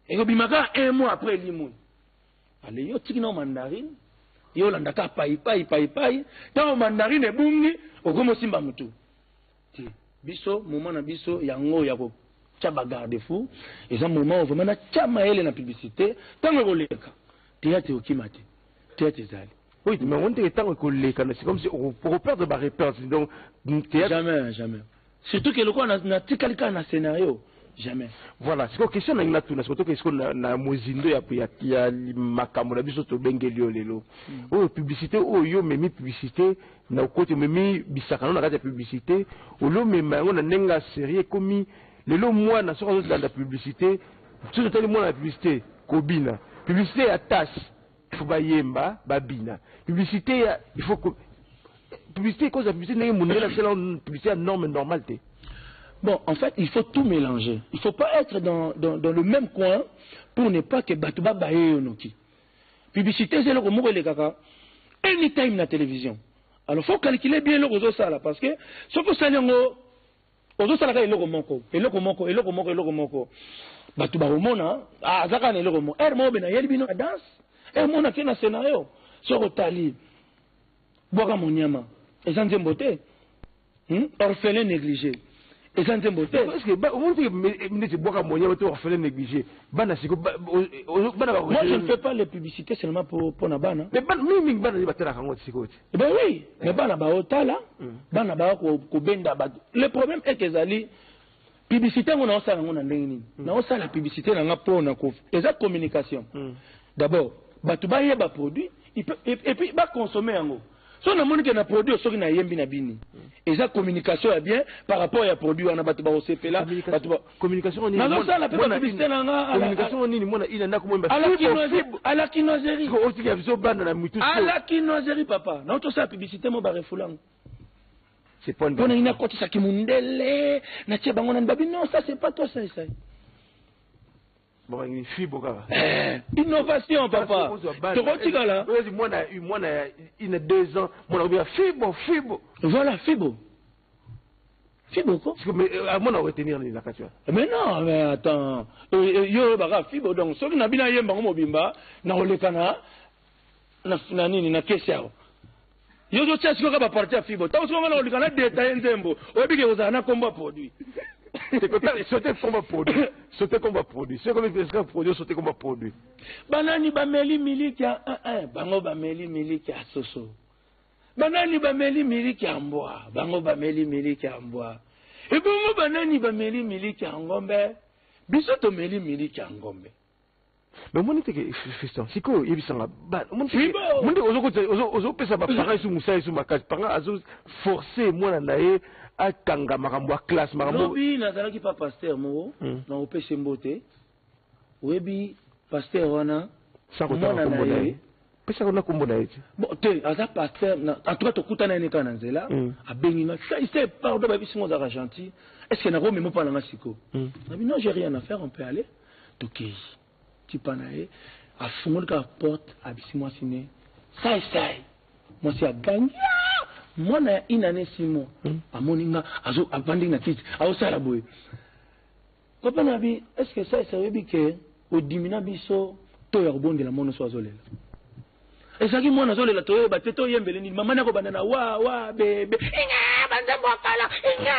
Speaker 1: ekobima kaka un mois après elimwe ale yo tiki nao mandarine yo olanda kaka paipai paipai ntango mandarine ebungi okomi osimba motu te biso moment na biso yango ya ko tia ba garde fou eza moment oyo vraiment na tia mayele na publicite tango ekoleka theatre okima te theatre ezali Oui, mais on dirait
Speaker 3: tant que les canaux, c'est comme si on repère ba repères. Donc, jamais,
Speaker 1: jamais. Surtout que le quoi na tikali ka na scénario. Jamais. Voilà, c'est une question
Speaker 3: na tout na surtout que ce na na mozindo ya ya ya makambo na biso to bengeli yo lelo. Hmm. Oh publicité oh yo memi publicité Na okoti omemi bisaka no na kati ya publicite au lieu omema yango na ndenge ya serieux ekomi lelo mwana soki azo landa publicite soki totali mwana na publicite kobina publicite ya tasse il faut bayemba babina publicite ya il faut ko publicite ekozala publicite ndenge mundele asala publicite ya norme normale te Bon,
Speaker 1: en fait, il faut tout mélanger. Il ne faut pas être dans, dans, dans le même coin pour ne pas que Batuba Baye Yonoki. Publicite eza eloko moko elekaka anytime na television. Alors faut calculer bien eloko ozosala parce que soki osali yango ozosala kaka eloko moko eloko moko eloko moko eloko moko bato bakomona ah, aza kaka na eloko moko ere moko bena yeli bino na danse ere moko nake na scenario soki otali bwaka monyama eza nzembo te Hmm? Orphelin négligé. eza nzembo te
Speaker 3: neti bwaka moyen to orphelin négligé bana siko bana ba moi je ne fais pas
Speaker 1: les publicités seulement pour pour na bana mais bana mingi mingi bana
Speaker 3: batala kango siko te eh ben oui mais
Speaker 1: bana ba otala hmm. bana ba ko benda ba le problème est que ezali publicité yango naosala yango na ndenge nini mm. naosala publicité na nga mpo na ko eza communication mm. d'abord bato bayeba produit epuis baconsomme yango so namoni ke na produit oyo soki nayembi na bini mm. eza communication ya bien par rapport ya produit wana bato bakosepela
Speaker 3: nazosala mpe bapublicité
Speaker 1: na
Speaker 3: ngaalakinoiserie
Speaker 1: papa naotosala publicité mo barefulango
Speaker 3: Pona nini akotisa
Speaker 1: kimundele na tie bango nani babi non ça c'est pas toi ça
Speaker 3: ça eh, innovation
Speaker 1: papa tokotikala mwana ya
Speaker 3: ina deux ans mwana kobika fibo fibo voilà
Speaker 1: fibo fibo ko
Speaker 3: amona oretenir nini na kati wana mais non mais
Speaker 1: attends yo oyebaka fibo donc soki na bino ayemba yango mobimba nakolekana na, na nini na kesi awa yo ozotia sikoyo kaka baparti ya fibo ntango sikoyo ngana kolika na detaye nzembo oyebiki ekozala na nkombo ya produit
Speaker 3: sote komba produit sote komba produit soki ekomi presika produit sote komba produit banani
Speaker 1: bameli miliki ya eh, eh, bango bameli miliki ya soso banani bameli miliki ya mbwa bango bameli miliki ya mbwa ebongo banani bameli miliki ya ngombe biso tomeli miliki ya ngombe Mais omoni
Speaker 3: te ke Fiston sikoyo yebisa nga ba omoni te ke Bibo! omoni te ozo kotisa ozo ozo pesa ba parents isu musala isu makasi panga azo forcer mwana na ye atanga makambo ya classe makambo lobi nazalaki pa
Speaker 1: pasteur moko Hmm. na opese mbote oyebi pasteur wana Sans kotanga mwana kombo
Speaker 3: na na ye ye. pesaka na kombo na ye ti bon te aza
Speaker 1: pasteur na en tout cas tokuta na ye kaka na nzela mm. abengi nga sai sai pardon ba bisingo zaka gentil est ce que na ko memo pala nga siko mm. na bi non j'ai rien à faire on peut aller to kei ti pa na ye a fungoli ka porte a bisi moi sine sai sai moi si a gangi mwana ya une année six mois mm. amoni nga azo abandi na kiti azo sala boye Papa nabi est ce que ça ça oyebi que odimina biso to ya kobondela mono so azolela ezalaki mwana azolela toyeba te toyembele nini mama nako banda na wa wa bebe inga banzembo ya kala inga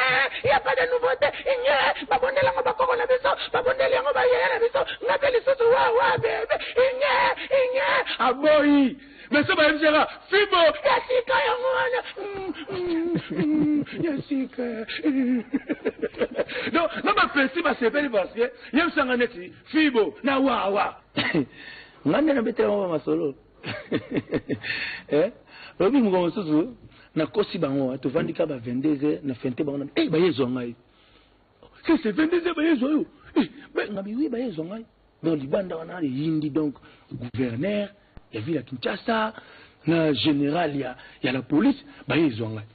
Speaker 1: ya pas de nouveauté inga babondela yango bakoko na biso babondeli yango bayeye na biso nga mpe lisusu wa wa bebe inga inga aboyi Mais ça va même dire Fibo, Yasika Yamwana, Yasika. Donc, non, ma petite, ma sepeli, parce que, yam sanga neti, Fibo, na wa wa. Ngande na betela mama masolo. Eh? Lobi mko msusu, na kosi bango, tuvandika ba 22 na fente bango, eh, ba yezo ngai. que c'est 22 heures baye zwa yo eh, mais nga biwi baye zwa ngai donc libanda wana eyindi donc gouverneur ya ville ya kinshasa na général ya, ya la police baye ezwa ngai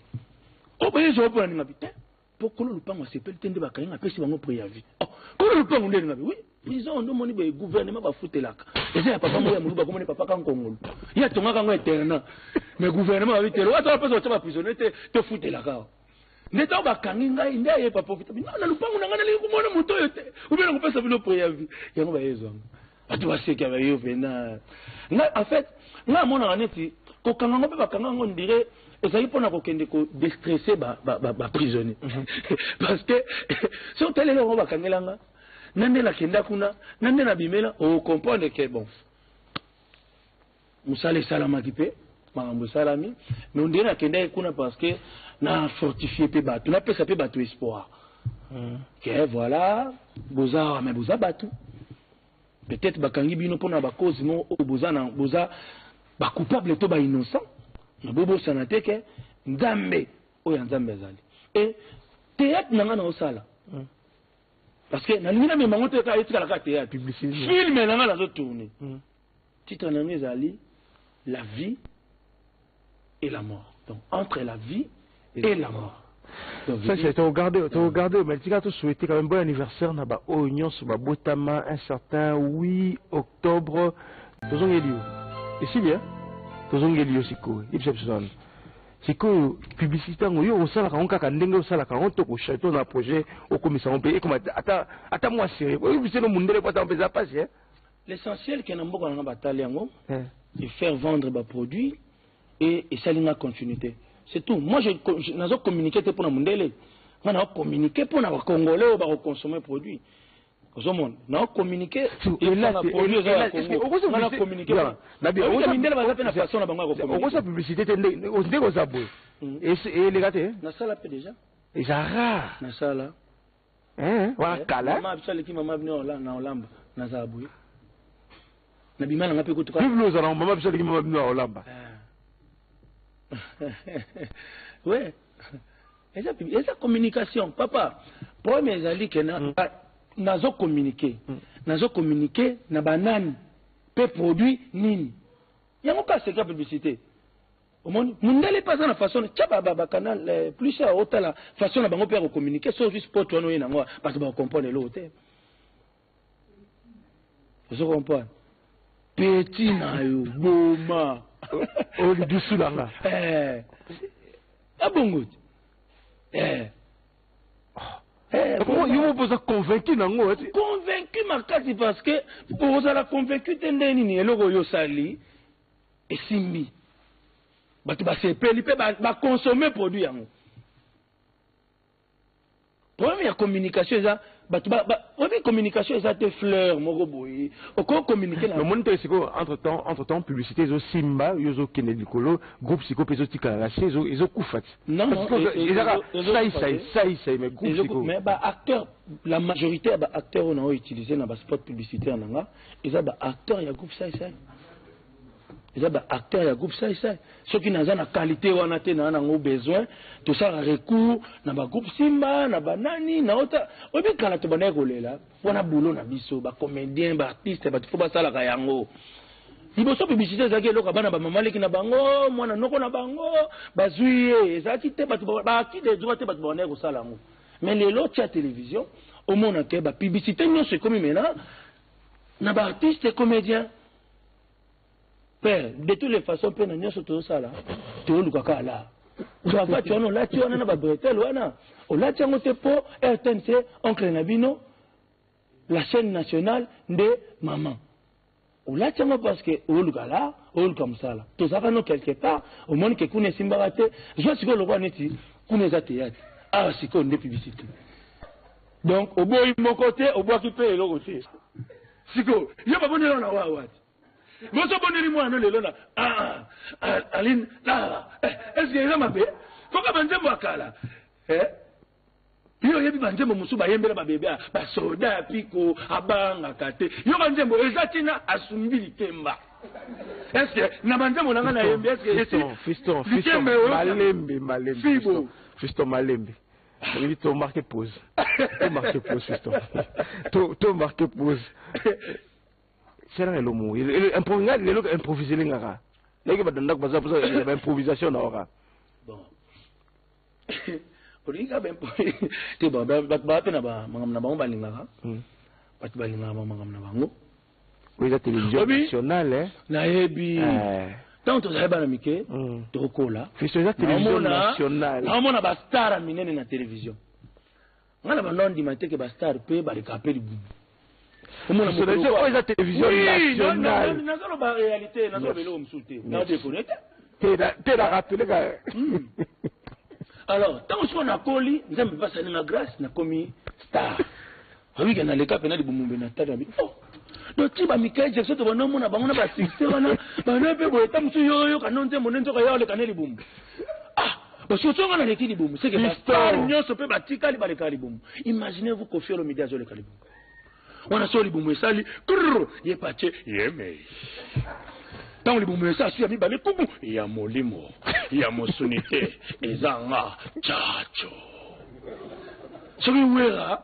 Speaker 1: o oh, baye ezwa mpona ninga bi te mpo kolo lopango asepeli te nde bakangi apesi bango preavis oh, kolo lopango nde ninga bi oui prison nde omoni boye gouvernement bafutelaka eza ya papa moko ya moluba komoni papa kankongolo ye atongaka yango internat mais gouvernement babitelo ata bapesa batya baprisonnier te tofutelaka nde ntango bakangi ngai nde aye papa vitamin na lupangu na ngai nalingi komona moto oyo te obe na kopesa bino preavi yango bayezwanga bato baseki bayo mpena ngai en fait ngai amonaka neti kokanga yango mpe bakanga yango ndire ezali mpona kokende kodestresse baprisonnier ba, ba mhm. parce que soki otaleli yango bakangela nga na nde nakenda kuna na nde nabimela okomprendre ke bon musala esalamaki pe makambo esalami mais on dirait nakendaki kuna parce que na fortifie pe bato napesa pe bato espoir hmm. ke voilà boza awa mais boza bato peut-être bakangi bino mpona bakozi moko oyo boza na boza bacoupable to bainnocent na bobosana te ke nzambe oyo ya nzambe azali e théâtre na ngai naosala hmm. parce que nalingi namema yango te kaka etikala kaka théâtre filme na ngai nazotourne hmm. Titre na yango ezali La vie et la mort. Donc entre la vie et, et la mort.
Speaker 3: Sasa togarde togarde mais tika to souhaiter quand même bon anniversaire na ba oyo nyonso ba botama un certain 8 octobre tozongeli yo esili hein tozongeli yo sikoyo yebisa biso nanu sikoyo publicité yango yo osalaka yango kaka ndenge osalaka yango to kochato na projet okomisa yango mpe ekoma ata ata mwa sere oyo biseno mundele po ata mpenza mpasi hein L'essentiel que
Speaker 1: na mboka nanga batali yango de faire vendre ba produits et esali nga continuite c'est tout moi je nazo communiquer te pona mundele nga na communiquer pona ba congolais oyo bako consommer produit ozomona na communiquer elanga produit eza ya congo nga na communiquer pona mindele baza pe na façon na bango ya ko communiquer
Speaker 3: okosa publicité te nde oza boye eleka te nasala pe déjà
Speaker 1: eza
Speaker 3: rare nasala Eh, wana eh, kala. Mama biso aleki mama bino
Speaker 1: na olamba na zabuye.
Speaker 3: Na bima na ngape kutuka. Biblo za na mama biso aleki mama bino na olamba.
Speaker 1: Ouais. Eza eza communication papa. Problème ezali que na mm. nazo communiquer. Mm. Nazo communiquer na banani pe produit nini. Yango ka seka publicité. omoni mundele mpe aza na façon tya bacanal eh, plus ya otala façon na bango mpe ya kocommunike so juste pote wana oye nango ah, bato bakokomprendre eloko te ozo comprendre peti na yo boma oyo
Speaker 3: lidusu na nga eh.
Speaker 1: abongo te eh.
Speaker 3: Eh, yo mopo oza convaincu nango convaincu makasi
Speaker 1: parce que ozala convaincu te nde nini eloko oyo osali esimbi bato basepeli mpe baconsome ba produit yango problème ya communication eza bato oyebi communication eza te fleur moko boye okoki communiquer na omoni te sikoyo
Speaker 3: entre
Speaker 1: temps
Speaker 3: entre temps publicité ezosimba yo ozokende likolo groupe sikoyo mpe ezotikala na se ezokufa ti ezaka
Speaker 1: saisai
Speaker 3: saisai mais groupe sikoyo mais ba acteur
Speaker 1: la majorité ya ba acteur oyo na oyo utilise na ba spot publicitaire na nga eza ba acteur ya groupe sai sai eza ba acteur ya groupe sai sai soki naza na qualité wana te naa nango besoin tosala recours na ba groupe simba na banani na ota oyebi kala tobandaki kolela wana boulot na biso ba comédien ba artiste bato fo basalaka yango liboso publicité ezalaki eloko bana bamama leki na bango mwana noko na bango bazwi ye ezalaki te bato baaki de droit te bato babandaki kosala yango Mais lelo otia television omona ke ba publicité nyonso ekomi mena na ba artiste comédien pe de toutes les façons pe na nyonso tozosala tooluka kaka laa cravate wana olati wana na babretele wana olati yango te mpo rtnc oncle na bino la chaîne nationale nde mama olati yango parce que oluka la oluka mosala tozalaka no quelque part omoni ke kuna esimbaka te zwa sikoyo lokola neti kuna eza teyate awa sikoyo nde publicité donc oboyi moko te obwaki mpe eloko te sikoyo yo baboneli wana wa wati boso boneli mwana lelo na ah, ah, aline ah, eh, eske eza mabe koka banzembo ya kala eh? yo oyebi banzembo mosusu bayembela babebe ah, basoda ya piko abangaka te yo banzembo eza ntina asumbi likemba eske na banzembo na ngai nayembi eskelikemba
Speaker 3: eyofibo fisto malembe oyebi to marke pose to marke pose fisto to marke pose selanga elomo ngai lelo improvise elengaka nayoki bato ndako baza baimprovisation na waka
Speaker 1: olingi kaka bempo te bato baa mpe na makambo na bango balingaka hmm. bato balingaka
Speaker 3: bamakambo na bango oyo eza télévision nationale eh? nayebi eh.
Speaker 1: ntango tozali bana mike hmm. tokola fiso eza télévision
Speaker 3: nationale naomona bastara
Speaker 1: minene na télévision Nga na banda ondima te ke ba star pe ba leka pe libumu. Omona
Speaker 3: mokolo oyo. Oyo eza television nationale. Nazo loba realite,
Speaker 1: nazo loba eloko mosusu te. Na deconner
Speaker 3: te. Te na te na rappeler ka.
Speaker 1: Alors, tango siko na koli, Nzambe pe asali nga grace na komi star. Oyebi ke na leka pena libumu mbe na tala bi. donc ti ba Michael Jackson to bana mona bango na ba succès wana bana pe boye ta musu yo yo kanon te monen nzoka yo le kaneli bumu ah basotsonga na leki libumu seke bastar nyonso mpe batikali baleka libumu imaginez vous kofi olomide azoleka libumu wana so libumu esali krr ye patie yemei ntango libumu esa asu ya mibale kubu ya molimo ya mosuni te eza nga jaco soki wera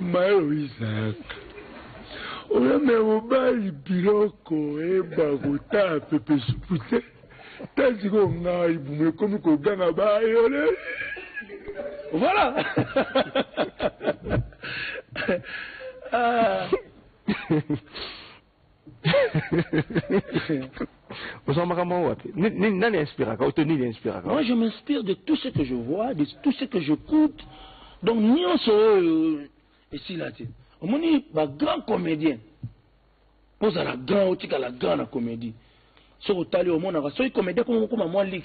Speaker 2: Mayo Isaac oyo me mobali biloko eba kotaa pepe supu te ta sikoyo ngai bumu ekomi koganga bayole
Speaker 1: voilà ah.
Speaker 3: Ozwa makambo yango wapi? Ni- ni- Nani inspiraka oto
Speaker 1: nini inspiraka? Moi, je m'inspire de tout ce que je vois, de tout ce que j'écoute. Donc, nyonso oyo esila te. Omoni ba grands comédiens. Mpo ozala grand, otikala grand na comédie. Soki otali omonaka, soki comédien koma mokoma mwa lix,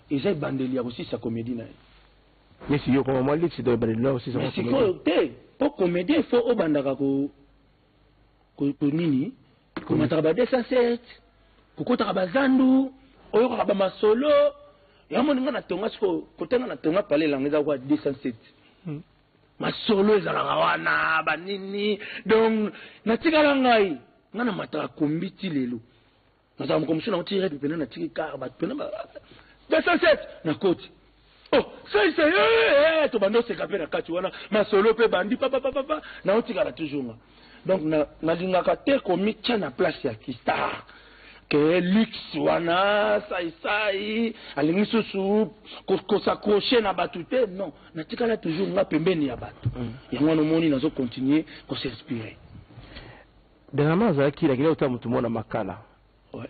Speaker 1: eza ebandeli ya kosilisa comédie na ye. Nesi
Speaker 3: yo koma mwa liksi doye bale lwa osisa Mais mwa sikoyo te,
Speaker 1: mpo comédien il faut obandaka ko nini komataka ba 207 kokotaka bazandu oyokaka bamasolo yamoni nga natonga siko kote nga natonga pale elanga eza kwa 207 hmm. masolo ezalaka wana banini donc natikala ngai nga namataka kombi ti lelo nazala moko mosusu nauti red mpena natiki kar bato mpena 207 nakoti o oh, saise eh, eh, eh, tobanda oseka mpe na kati wana masolo mpe bandi papapapapa naotikala toujours nga donc nalingaka te komitya na place ya kistar ke luxe wana saisai alingi susu kosaccroche na bato te non natikala toujours nga pembeni ya bato mm. yango wana omoni nazo continue kosinspire
Speaker 3: Dernièrement azalaki na kila kotala motu moko na makala ouais.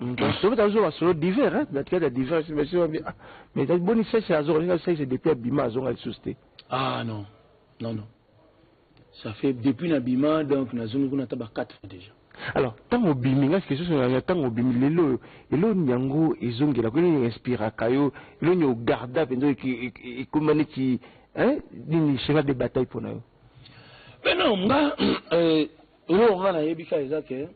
Speaker 1: Mm. tobe
Speaker 3: tazo masolo divers hein na tikata divers mais c'est bien ah, mais ta boni sèche azo ringa sèche depuis abima azo ngal souste ah non
Speaker 1: non non ça fait depuis na bima donc na zongi kuna taba 4 fois déjà alors tango
Speaker 3: bimi ngai question sur la tango bimi lelo elo nyango ezongela ko ni inspira kayo elo nyo garda pendo ki ekomani ki hein ni cheval de bataille pona yo Mais non,
Speaker 1: nga, euh, eloko nga nayebi ka eza ke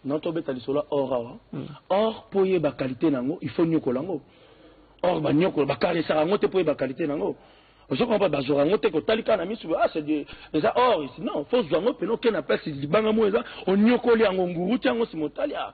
Speaker 1: na tobeta lisolo ya or awa mm. or mpo oyeba kalite na yango il faut nyokola yango or banyokola bakaresaka yango te mpo oyeba kalite na yango ozokomba bazwaka yango te kotali kaka na misu ah c'est eza or non fo ozwa yango mpena oke na place libanga moko eza onyokoli yango nguru ti yango nsima otali ah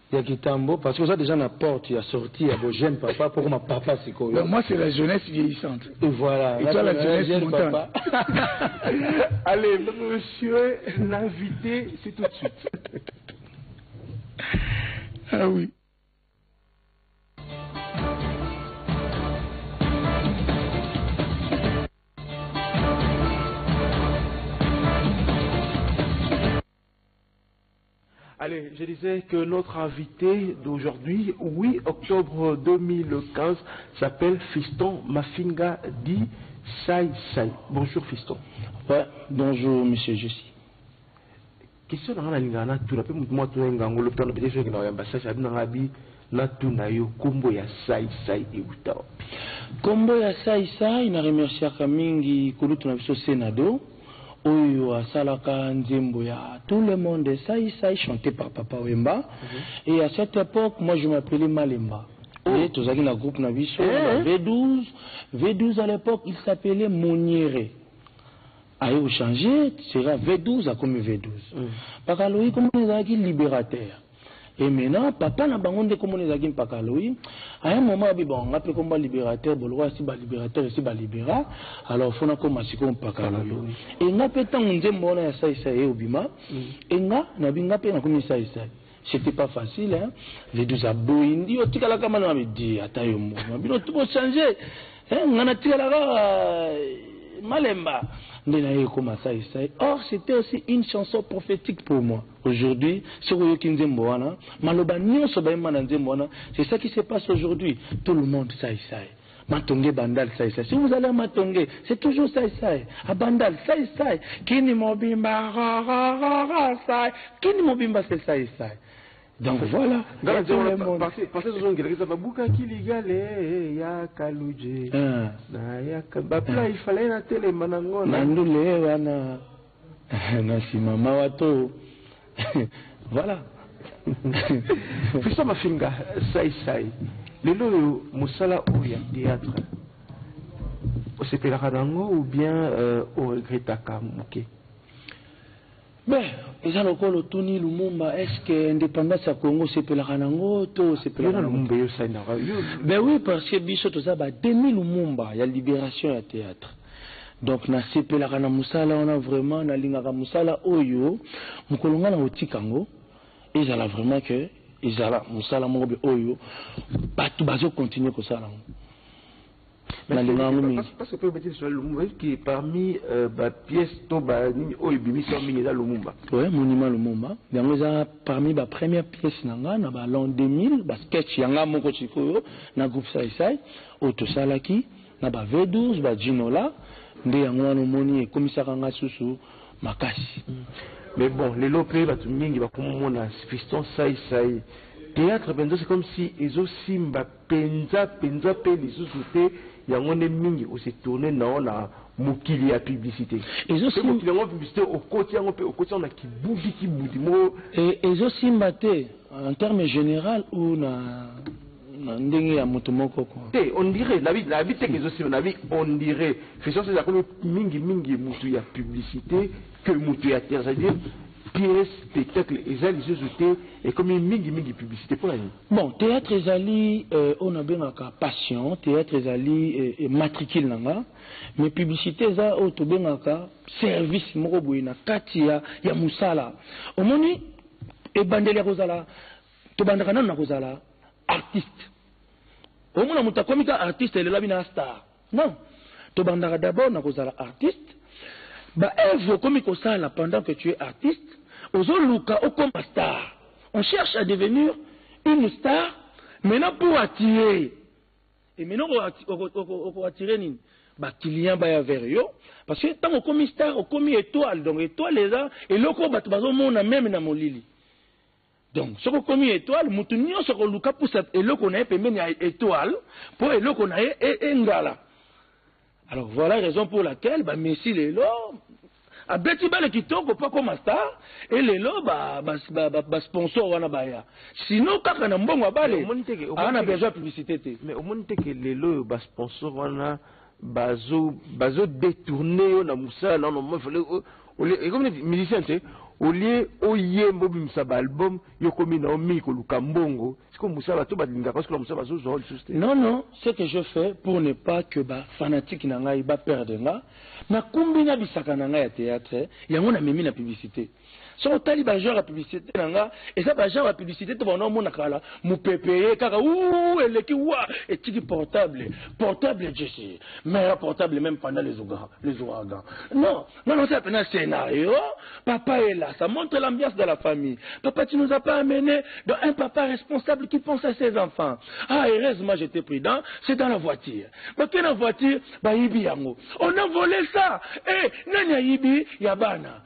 Speaker 1: ya kitambo parce que oza dejà na porte ya sortie ya bo jeune papa po koma papa sikoyo mais moi c'est la jeunesse
Speaker 2: vieillissante et voilà et
Speaker 1: toi la jeunesse
Speaker 2: montante
Speaker 3: allez monsieur l'invité c'est tout de suite ah
Speaker 2: oui
Speaker 3: Allez, je disais que notre invité d'aujourd'hui, 8 octobre 2015, s'appelle Fiston Mafinga dit Sai Sai. Bonjour Fiston. Ouais,
Speaker 1: bonjour Monsieur Jussi.
Speaker 3: Question nanga na lingana tuna pe mutu mwa tuna ngangolo tuna pe question na yamba sasa abina ngabi Natuna yo kombo ya sai sai ewuta wapi? Kombo
Speaker 1: ya sai sai na remerciaka mingi kulutu na biso Senado oyo asalaka nzembo ya tout le monde sai sai chante par papa wemba et à cette epoque moi je m'appelais malemba et tozalaki na groupe na biso na ba V12 V12 à l'epoque il s'appelait moniere aye ko changer sera V12 akomi V12 bakalogi kombo na ye ezalaki liberateur Et maintenant, papa na bango nde komona ezalaki mpaka aloyi. À un moment, abi bon, nga pe komba libérateur, boloko si ba libérateur, si ba libéra. Alors, fona koma siko mpaka aloyi. Et nga pe tango nzembo wana ya sai sai eobima, mm. et nga, na bi nga pe na komi sai sai. C'était pas facile, hein. Les deux aboyi, ndi yo tikala kama na mi di, ata yo mbo. Ma bino tubo changer. Hein, nga na tikala ka euh, malemba. Nde na ye koma sai sai. Or, c'était aussi une chanson prophétique pour moi. Aujourd'hui soki oyoki nzembo wana maloba nionso bayemba na nzembo wana c'est ça qui se passe aujourd'hui tout le monde sai sai matonge bandal sai sai si vous allez à matonge c'est toujours sai sai à bandal sai sai kini mobimba ra ra ra ra sai kini mobimba c'est sai sai donc voilà
Speaker 3: pasezozongelakisa babukaki ligale ya kaluje na ya bapla ifale na telema na ngo na ndule wana
Speaker 1: Na sima mawa to voilà.
Speaker 3: Fiston Mafinga Sai Sai, lelo oyo mosala oyo ya theatre osepelaka na yango ou bien euh, o regrettaka moke?
Speaker 1: Be, eza lokola otuni Lumumba, est-ce que indépendance ya Congo osepelaka na yango to osepelaka na Lumumba? Be oui, parce que biso toza ba demi Lumumba ya liberation ya theatre. Donc na sepelaka na musala wana vraiment na lingaka musala oyo mukolo nga nako tika yango ezala vraiment que ezala musala moko boye oyo batu bazo continuer kosala yango na lingaka yango
Speaker 3: mingi parce que peut mettre sur lumumba qui parmi euh, ba pièces to ba nini oyo bimisi yango mingi eza lumumba ouais monument lumumba
Speaker 1: yango eza parmi ba première pièce na nga na ba l'an 2000 ba sketch ya nga moko sikoyo na groupe sai sai oyo tosalaki na ba V12 ba djinola nde yango wana omoni ekomisaka nga susu makasi. Mais bon
Speaker 3: lelo pe batu mingi bakomi komona fiston sai sai theatre penza c'est comme si ezo simba penza penza pe lisusu te yango nde mingi o se tourner nao na mokili ya publicite Ezo pe sim- mokili yango
Speaker 1: ya publicite okoti
Speaker 3: yango pe okoti yango na kibudi kibudi moko E,
Speaker 1: ezo simba te en terme general ou na Na ndenge ya mutu moko quoi. Te on dirait nabi
Speaker 3: nabi te ke ezo simba nabi on dirait Christian Celio akomi mingi mingi mutu ya publicite que mutu ya theatre c'est à dire pièce spectacle eza lisusu te ekomi mingi mingi publicite pona nini? Bon theatre ezali
Speaker 1: oyo na bengaka passion theatre ezali matricule na nga mais publicite eza oyo to bengaka service moko boye na kati ya ya musala omoni ebandeli ya kozala Tobandaka nanu na kozala artiste. Omona moto akomi ka artiste lelo abi na star. Non. Tobandaka d'abord na kozala artiste. Ba œuvres okomi kosala pendant que tu es artiste, ozoluka okoma star. On cherche à devenir une star maintenant pour attirer. Et maintenant oko attirer nini? Ba clients baya vers yo parce que tango okomi star, okomi etoile. Donc etoile eza eloko bato bazomona meme na molili. Donc soki okomi etoile mutu nyonso akoluka pusa eloko na ye pembeni ya etoile mpo eloko na ye engala e alors voilà raison pour laquelle ba messi lelo abeti bale kitoko mpo akoma star e lelo basponsor ba, ba, ba wana baya sinon kaka na mbongo ya bale aa na besoin ya publicité te mais omoni te ke
Speaker 3: lelo oyo basponsor wana bazo bazo detourner yo na musala na no mafale olie ekomi neti musicien te olie oyemba obimisa ba album yo komi na yo mingi koluka mbongo siko musala bato balingaka osikola musala bazozwa yo lisusu te non non ce
Speaker 1: que je fais pour ne pas que ba fanatique na ngai ba perdre nga nakumbi na bisaka na ngai ya theatre yango namemi na publicite soki otali ba genre ya publicité na nga eza ba genre ya publicité te bana omona kala mopepe ye kaka uu eleki wa etiki portable portable jesi mera portable même pendant les ouragans non nga nasala pena scénario papa ela ça montre l'ambiance de la famille papa tu nous as pas amené dans un papa responsable qui pense à ses enfants ah heureusement j'étais prudent c'est dans la voiture bakena voiture bayibi yango on a volé ça eh nani ayibi ya bana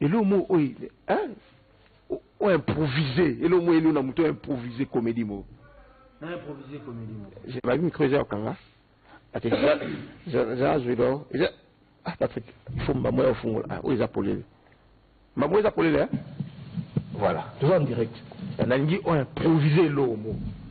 Speaker 3: Elo mo oye hein o improviser elo mo elo na moto improviser comédie mo na
Speaker 1: improviser comédie mo je ba micro eza okanga
Speaker 3: ate za zuido eza ah Patrick il faut mbambo ya ofungola ah oyo eza polele mbambo eza polele hein voilà toza en direct nalingi o improviser elo mo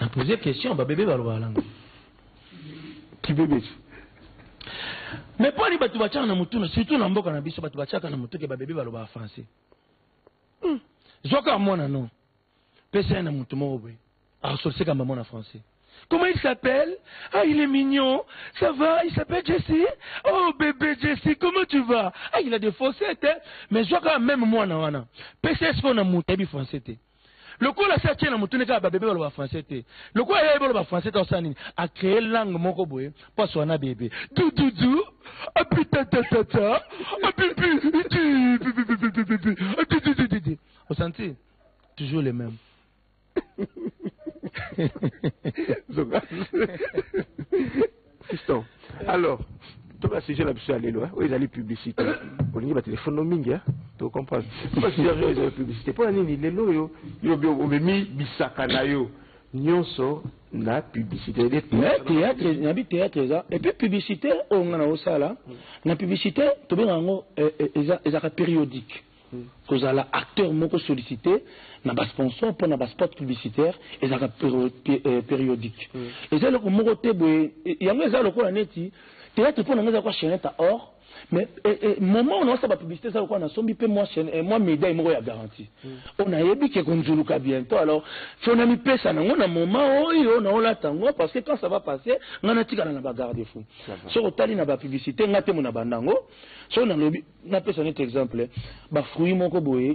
Speaker 1: na pose question babebe balobaka nanga
Speaker 3: kibebeti
Speaker 1: mais mpo ani bato batyaka na motuna surtout na mboka na biso bato batyaka na motuke babebe balobaka français hmm. zwaka mwana no pesa ye na moto moko boye Arsolse kamba mwana français. Comment il s'appelle Ah, il est mignon. Ça va Il s'appelle Jesse Oh, bébé Jesse, comment tu vas Ah, il a des faussettes, hein Mais je quand même moi, na wana. PCS qu'on a monté, bi français, t'es. lokola asi atie na motuni kaka babebe baloba français te lokola ye baloba français te osala nini acree langue moko boye mpo aswana bebe dududu apitatata apipi osanti toujours le même
Speaker 3: fiston alors toka sujet na biso ya lelo oyo ezali publicité olingi batelefone no mingi tocomprendre toka sujet oyo ezali publicité mpo na nini lelo oyo yo omemi bisaka na yo nyonso na publicité na
Speaker 1: bithéâtre eza epuis publicité oyo nga na osala na publicité tobengaka yango ezaka périodique Kozala acteur moko sollicite na ba sponsors mpo na ba spots publicitaires ezalaka periodique. Eza eloko moko te boye, yango eza lokola neti theatre mpo na ngai eza lokola chainette à or mais moment oyo naosala ba publicite eza lokola nasombi mpe mwa medaille moko ya garantie oyo nayebi que ekonzuluka bientot alors faut namipesa na yango na moment oyo naolata yango parce que quand ça va passer ngai natikala na ba garde fou. soki otali na ba publicite nga temo na banda yango soki nalobi napesa neti exemple ba fruit moko boye